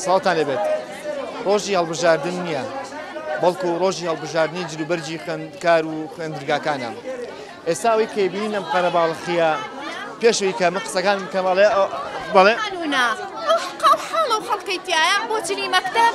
ساڵتان لێبێت ڕۆژی هەڵبژاردن نییە بەڵکو ڕۆژی هەڵبژاردننی جلوبەرجی خوێندکار و خوێندرگاکانە ئێستا ئەوەی کەبیین لەم قەرەباڵخە پێشوی کە من قسەکان کەماڵێ بەڵێ حاڵە و خەڵکەی تایە بۆ چنی مەکتب.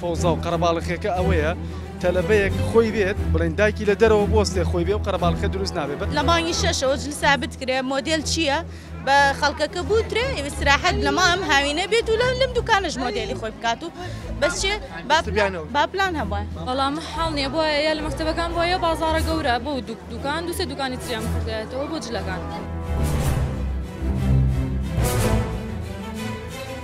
فەوزا و قەرەباڵخیەکە ئەوەیە تەلەبەیەک خۆی بێت بڵێن دایکی لە دەرەوە بۆستێ خۆی بێ و قەرەباڵخە دروست نابێت بە. لە مانگی شەشەوە جلسا بتکرێ مۆدێل چییە بە خەڵکەکە بوترێ ئیسراحەت لە مام هاوینە بێت و لەم دوکانەش مۆدێلی خۆی بکات و بەس چێ با پلان هەبووە بەڵام حاڵ نییە بۆە یا لە مەکتتەبەکان بۆ یە بازارە گەورە بۆ دوکان دوسێ دوکانی تریان بکردێتەوە بۆ جلەکان.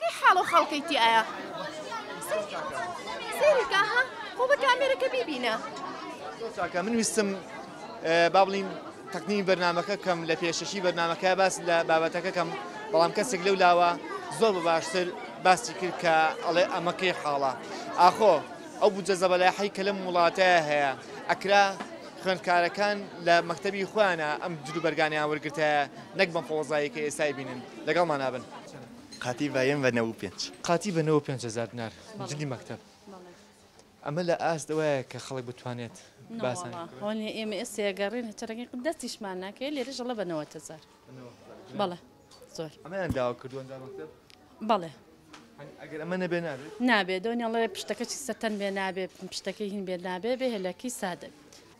کەی حاڵو حاڵکەی تی ئایە سەیری کە ها خۆ بە کامێرەکە بیبینە چاکە من ویستم با بڵین تەکنی بەرنمەکە کەم لە پێشەشی بەرنمەکە باس لە بابەتەکە کەم بەڵام کەسێک لەو لاوە زۆر بە باشتر باسی کرد کە ئەڵێ ئەمەکەی حاڵە ئاخۆ ئەو بجە زەبەلاحی کە لەم وڵاتەیە هەیە ئەکرا خوێندکارەکان لە مەکتتەبی خۆیانە ئەم جلوبەرگانیان وەرگتە نەک بەم فۆزایەکە ئێستای بینن لەگەڵمانابن. قاتی بە یەم بە نەوو پێنج. قاتی بە نەوە پێنج هەزار دنار جلی مەکتەب. ئەمە لە ئاست ئەوەیە کە خەڵک بتوانێت باسان. هۆنی ئێمە ئێستا یەگەڕێن هەچە ڕەنگی دەستیشمان ناکەێت لێرە ژەڵە بە نەوە هەزار. بەڵێ زۆر. ئەمەیان داوا کردووە دا مەکتەب؟ بەڵێ. ئەگەر ئەمە نەبێ نابێت؟ نابێت دۆنیاڵێ پشتەکەی سەتەن بێ نابێت پشتەکەی هین بێت نابێ بێ هێلەکی سادە بێت.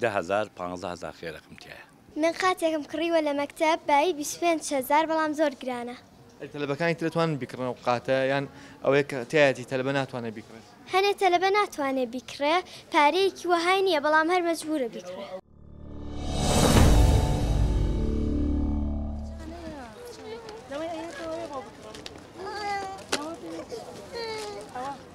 دە هەزار پانزە هەزار خێرەکم تیایە. من قاتێکم کڕیوە لە مەکتەب بایی بیست و پێنج هەزار بەڵام زۆر گرانە. ئەی تەلەبەکانی تر ئەتوانن بیکڕن ئەو قاتە یان ئەوەی کە تیایەتی تەلەبە ناتوانێ بیکڕێت؟ هەنێ تەلەبە ناتوانێ بیکڕێ پارەیەکی وەهای نیە بەڵام هەر مەجبورە بیکڕێ.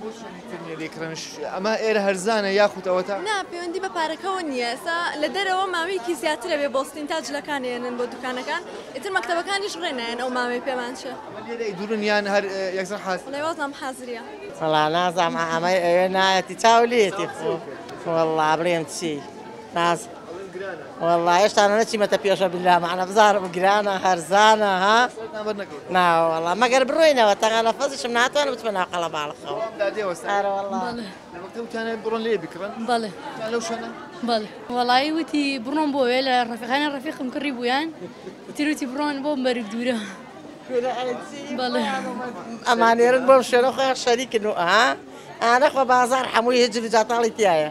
بۆ چۆنی تر نیە لێی کڕێنش ئەمە ئێرە هەرزانە یاخود ئەوەتا؟ نا پەیوەندی بە پارەکەەوە نییە ئێستا لە دەرەوە ماوەیەکی زیاترە بێ بۆستین تا جلەکان ێنن بۆ دوکانەکان ئیتر مەکتتەبەکانیش ڕێنایەن ئەو ماوەی پێمان چێ لێرەی دوورن یان هەر یەکسەر حاز لەوازام حازریە وەڵا نازام ئەمەی ئەوێ نایەتی چاو لێتی خۆ وەڵا بڵێم چی ناز وەڵا هێشتا نەچیمەتە پێشە بلا مەعنە بزارم گرانە هەرزانە ها ناوەڵا مەگەر بڕۆینەوە تەنگا لە فەزیشم ناتوانم بچمە ناو قەڵە باڵخەوە بڕۆن لێ بکڕن بەڵێ لەو شوێنە بەڵ وەڵایی وتی بڕۆم بۆ وێ لە ڕفقانە ڕفیقم کڕی بوویان تیروتی بڕۆن بۆ مەرگ دوورە. ئەمانێرن بۆم شوێنە خۆیان شەریکن و ئا ئانەخۆ بازار هەمووی هجر و جاتاڵی تایە.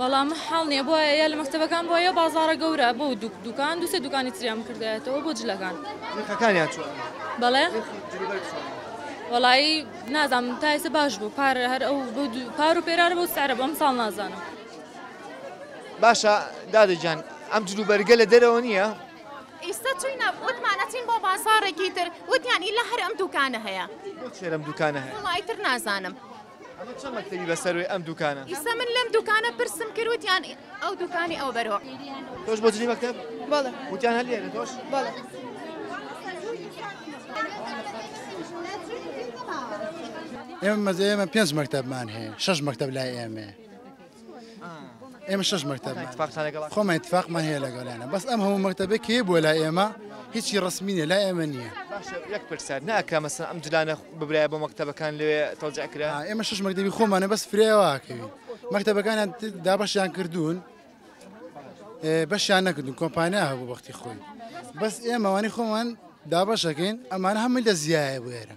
وەڵام حاڵ نیە بۆە یا لە مەکتتەبەکان بۆە یا بازارە گەورە بۆ دوک دوکان دوسێ دوکانی تریان کردایەتەوە بۆ جلەکان بەڵێ وەڵایی نازانم تایسە باش بوو پارە هەر ئەو پار و پێرارە بۆ سارە بەم ساڵ نازانم. باشە دادە گیان ئەم جلوبەرگە لە دەرەوە نییە؟ ئیستا چوینە وتمان ئەچین بۆ بازاڕێکی تر وتیان ئیلا هەر ئەم دوکانە هەیە بۆچی ئەم دوکانە هەیە وڵی تر نازانم ئەمە چەند مەکتەبی بەسەروی ئەم دوکانە ئیستا من لەم دوکانە پرسم کرد وتیان ئەو دوکانی ئەو بەرۆ تۆش بۆ جلی مەکتەب بەڵێ وتیان هەر لێرە تۆش بەڵێ ئێمە مەزە ئێمە پێنج مەکتەبمان هەیە شەش مەکتەب لای ئێمەیە ئێمە شش مەکتب خۆمان اتفاقمان هەیە لەگەڵیانە بەس ئەم هەموو مەکتتەبێ کێ بۆ لا ئێمە هیچی ڕسمینە لا ئێمە نییە یەک پرسیار ناکە مەسن ئەم جلانە ببرای بۆ مەکتتەبەکان لێ تەوجع کرا ئێمە شش مەکتتەبی خۆمانە بەس فرێواکەوی مەکتتەبەکانیان دابەشیان کردوون بەشیان نەکردون کۆمپانیا هەبوو بەختی خۆی بەس ئێمەوانی خۆمان دابەشەکەین ئەمانە هەمووی لە زیایە بێرە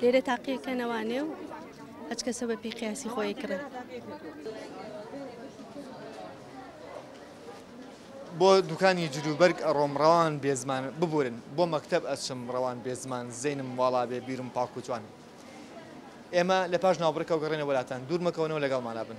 لێرە تاقیە کە نەوانێ و هەچ کەسە بە پێی قیاسی خۆی کڕێ. بۆ دوکانی جلوبەرگ ئەڕۆم ڕەوان بێزمان ببورن بۆ مەکتەب ئەچم ڕەوان بێزمان زەینم واڵا بێ بیرم پاک و جوان ئێمە لە پاش ناوبڕکەوە گەڕێنە وەلاتان دوور مەکەونەوە لەگەڵمانا بن.